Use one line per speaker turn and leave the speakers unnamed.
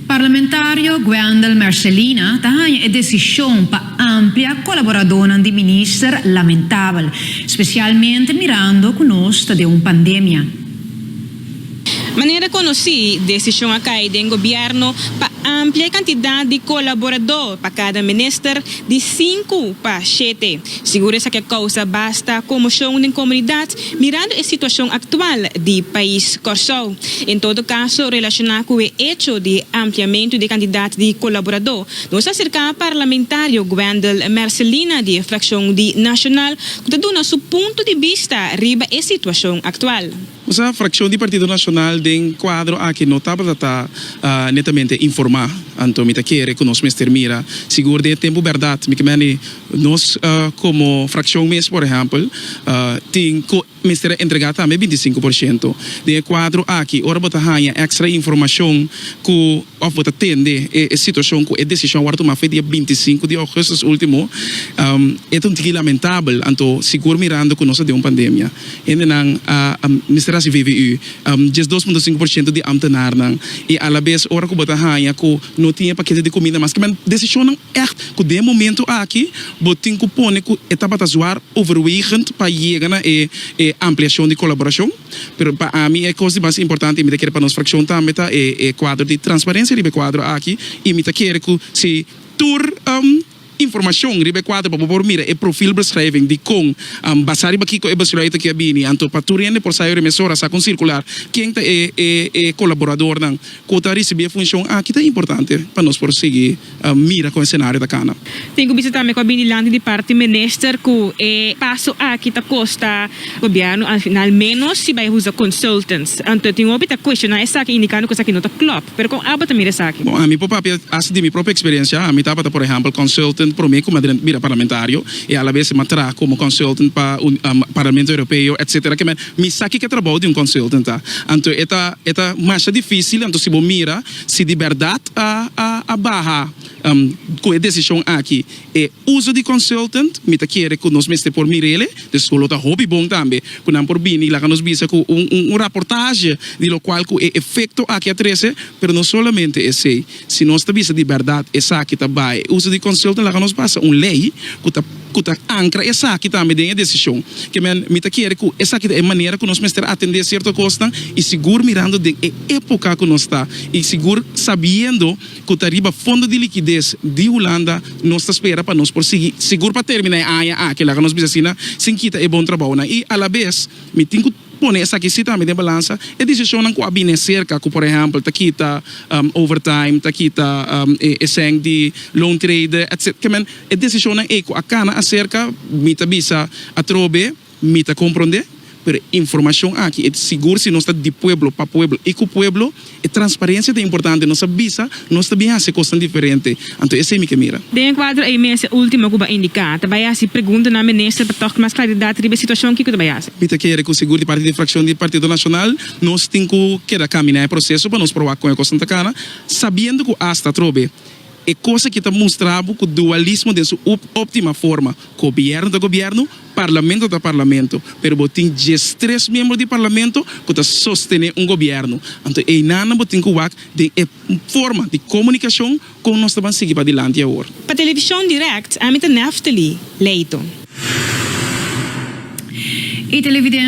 Parlamentario Guendel Mercelina ta haña e desishon pa amplia kolaboradónan di minister lamentabel, spesialmente mirando ku nos ta den un pandemia.
Manera konosí, desishon a kai den gobièrnu pa amplia e kantidat di kolaboradó pa kada minister di sinku pa shete. Sigur esaki a kousa basta komoshon den komunidat Mirando e situacion actual di pais Corsou, en todo caso relaciona cu e hecho di ampliamento di candidad di colaborador, nos ta cerca parlamentario Gwendel Mercelina di e fraccion di Nacional cu ta duna su punto di bista riba e situacion actual. Cu sa fraccion
di Partido Nacional den cuadro aki no tabata ta netamente informa, anto mi ta kere cu nos mester mira sigur den e tempo berdad, mi ke meni. Nos komo frakshon mes por ehèmpel tin ku mester a entregá tambe binti i sinku por shento. Den e kuadro aki ora bo ta haña èkstra informashon ku òf bo ta tende e situashon ku e desishon a wòrdu tumá fei dia binti i sinku di ougùstus último e ta un tiki lamentabel anto sigur mirando ku nos ta den un pandemia hendenan a mester hasi VVU. diesdos punto sinku por shento di amtenarnan i alabes ora ku bo ta haña ku no tin e pakete di kuminda maske men desishonnan ègt ku den momentu aki bo tin ku pone ku e tabata zwaar overwegend pa yega na e e ampliashon di kolaborashon pero pa ami e kos di mas importante i mi ta kere pa nos frakshon tambe ta e e kuadro di transparensia riba e kuadro aki i mi ta kere ku si tur. Informashon riba e kuadro pa bo por mira e profilbeschrijving dikon, basá riba kiko e beschrijf ta ke a bini. Anto pa tur hende por sa e hora mes hora sa kon sirkular ken ta e e kolaboradornan ku ta risibí e funshon aki ta importante pa nos por sigui mira kon e senario ta kana. Tin ku bisa tambe ku a
bini lanti di parti minister ku e paso aki ta kosta. Gobierno al final menos si bay usa consultants. Anto tin hopi ta cuestiona esaki indicando cu esaki no ta clop. Pero con abo ta mira esaki? Bon, ami por papia haci
di mi propio experiencia. Ami tabata por ehempel consultant prome cu mi a drenta bira parlamentario y a la vez mi a traha como consultant pa Parlamento Europeo etc. Ke manera mi sa kiko e trabao di un consultant ta. Anto e ta e ta masha dificil anto si bo mira si di berdad a a baha cu e decision aki E uso di consultant, mi ta kere cu nos mester por mira el'e, dus cu lo ta hopi bon tambe cu nan por bini y laga nos bisa cu un un raportaje di locual cu e efecto aki a trece, pero no solamente esey, si nos ta bisa di berdad esaki ta bay e uso di consultant laga nos pasa un ley cu ta cu ta ancra esaki tambe den e decision, ke men mi ta kere cu esaki ta e manera cu nos mester atende cierto cosnan y sigur mirando den e epoca cu nos ta y sigur sabiendo. ku ta riba Fondo di Likides di Hulanda, nos ta spera pa nos por sigui sigur pa terminá e aña aki, laga nos bisa asina, sin kita e bon trabounan. I alabes mi tin ku pone esaki sí tambe den balansa, e desishonnan ku a bini aserka, ku por ehèmpel ta kita overtime, ta kita e sèn di loontrede, etc. Ke men, e desishonnan ei ku a kana aserka, mi ta bisa atrobe, Mi ta comprende, pero e informacion aki e sigur si nos ta di pueblo pa pueblo y cu pueblo. E transparencia ta importante, nos a bisa nos ta bin haci cosnan diferente, anto esey mi ke mira. Den e cuadro ey mester
ultimo cu ba indica, ta bay haci pregunta na Minister pa togt mas claridad riba e situacion, kico ta bay haci? Mi ta kere cu sigur di parti
di fraccion di Partido Nacional nos tin cu keda camina e proceso pa nos proba con e cosnan ta cana, sabiendo cu hasta atrobe, E kos aki ta mustra bo ku dualismo den su up optima forma, gobièrnu ta gobièrnu, parlamento ta parlamento, pero bo tin diestres miembro di parlamento ku ta sostené un gobièrnu. Anto einan nan bo tin ku wak den e forma di komunikashon kon nos ta ban sigui padilanti awor. Pa televishon dirèkt,
ami ta Naftali Leyton. E televidente